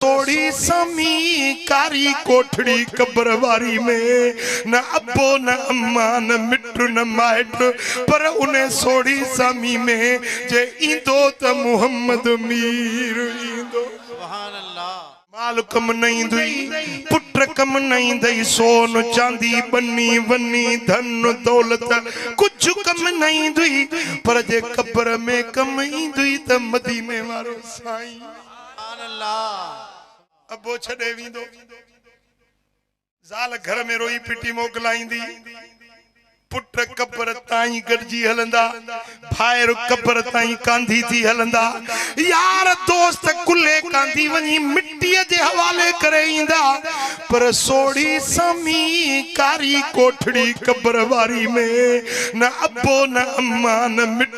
سوڙهي سامي ڪاري ڪوٺڙي قبر واري ۾ نه ابو نه اما نه مٽ نه مائٽ پر ان سوڙهي سامي ۾ جي ايندو ته محمد مير ايندو. مال ڪم نه ايندئي پٽ ڪم نه ايندئي سون چاندي ٻني وني ڌن دولت ڪجهه ڪم نه ايندئي پر جي قبر ۾ ڪم ايندئي ته مديني وارو سائين. ابو ڇڏي ويندو. زال گهر ۾ روئي پٽي موڪلائيندي. پٽ قبر تائين گڏجي هلندا. ڀائر قبر تائين ڪانڌي ٿي هلندا. يار دوست ڪلهي ڪانڌي وڃي مٽيء جي حوالي ڪري ايندا. پر سوڙهي سامي ڪاري ڪوٺڙي قبر واري ۾ نه ابو نه امان مٽي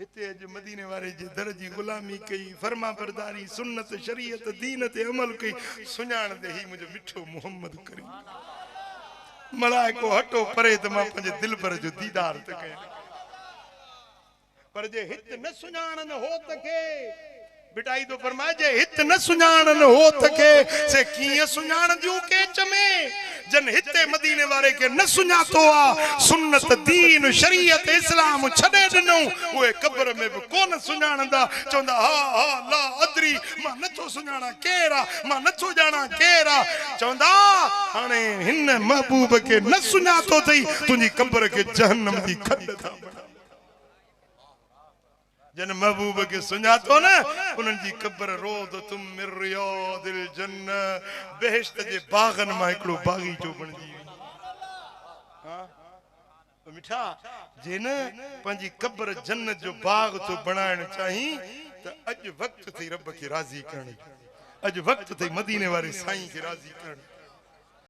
هتي اڄ مديني واري جي در جي غلامي ڪئي، فرمانبرداري، سنت، شريعت، دين تي عمل ڪئي، سڃاڻ ڏي هي منهنجو مٺو محمد ڪريم آ. ملائڪو هٽو پري ته مان پنهنجي دلبر جو ديدار ته ڪيان. پر جي هت نه سڃاڻن هوت کي. ڀٽائي ٿو فرمائي، جي هت نه سڃاڻن هوٿ کي، سي ڪيئن سڃاڻنديون ڪيچ ۾، جن هت ۽ مديني واري کي نه سڃاتو آ، سنت، دين، شريعت، اسلام ڇڏي ڏنئون، اهي قبر ۾ به ڪونه سڃاڻندا، چوندا ها ها لا ادري، مان نه ٿو سڃاڻان ڪير آ، مان نه ٿو ڄاڻان ڪير آ، چوندا هاڻي هن محبوب کي نه سڃاتو ٿئي، تنهنجي قبر کي جهنم جي کڏ ٿا بڻائون. جن محبوب کي سڃاتو نه، انهن جي قبر روضة من رياض الجنة، بهشت جي باغن مان هڪڙو باغيچو بڻجي ويندي. ها مٺا! جي نه پنهنجي قبر جنت جو باغ ٿو بڻائڻ چاهين ته اڄ وقت اٿئي رب کي راضي ڪرڻ جو، اڄ وقت اٿئي مديني واري سائين کي راضي ڪرڻ جو.